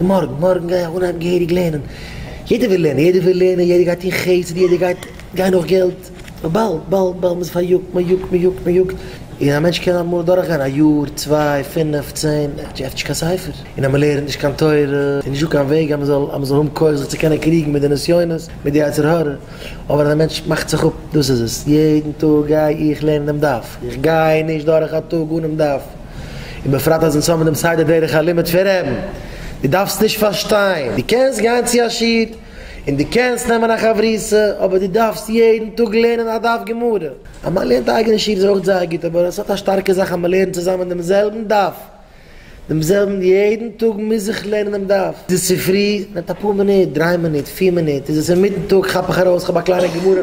מארגן מארגן גיי איך אנהייבן געהעריג לערנען, יעדער וויל לערנען, יעדער וויל לערנען, יעדער גייט טון חסד, יעדער גייט גיין נאך געלט, אבער באלד באלד באלד מ'איז פאריאגט, מ'יאגט מ'יאגט מ'יאגט, און א מענטש קען אמאל דורך גיין א יאר, צוויי, פינף, צען, ער עפנט נישט קיין ספר, און אז מ'לערנט נישט קיין תורה, איז נישטא קיין וועג אז מ'זאל אז מ'זאל האבן כח זיך צו קענען קריגן מיט די נסיונות, מיט די יצר הרע, אבער אז א מענטש מאכט זיך אפ, דאס איז עס, יעדן טאג גיי איך לערנען דעם דף, איך גיי נישט דורך א טאג אנעם דף. און בפרט אז אונז האבן דעם סדר דרך הלימוד פון רעבן. דו דארפסט נישט פארשטיין, דו קענסט גיין צו א שיעור, און דו קענסט נעמען א חברותא, אבער דו דארפסט יעדן טאג לערנען א דף גמרא. אז מען לערנט אייגענע שיעור איז אויך זייער גוט, אבער עס האט א שטארקע זאך אז מען לערנט צוזאמען דעם זעלבן דף, דעם זעלבן יעדן טאג מוז איך לערנען דעם דף. איז עס צופרי, נעמט אפאר מינוט, דריי מינוט, פיר מינוט, איז עס אינמיטן טאג, כאפ איך ארויס, כ'האב א קליינע גמרא.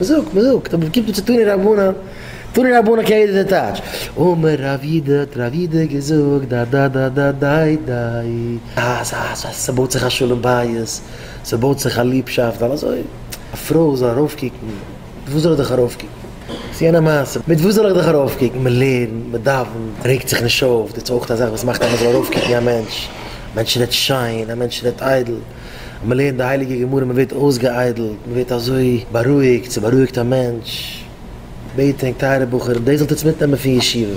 מ'זאגט, מ'זאגט, אבער קומט מען צו תנא רבנן, תנא רבנן קען יעדער דער טייטש, אמר רב יודא, האט רב יודא געזאגט, דאדאדאדאדאיי דאי, אז אז אז ס'בויט זיך א שלום בית, ס'בויט זיך א ליבשאפט, ווייל אזוי א פרוי זאל ארויפקוקן, מיט וואס זאל איך דיך ארויפקוקן, ס'איז יענע מעשה, מיט וואס זאל איך דיך ארויפקוקן, מ'לערנט, מ'דאווענט, מ'רעגט זיך נישט אויף, דאס איז אויך אזאך וואס מאכט אז מ'זאל ארויפקוקן א מענטש, א מענטש רעדט שיין, א מענטש רעדט איידל. אז מען לערנט די הייליגע גמרא מען ווערט אויסגעאיידלט, מען ווערט אזוי בארואיגט, ס'בארואיגט א מענטש, בעט ענק טייערע בחורים דאס זאלט אונז מיטנעמען פון ישיבה.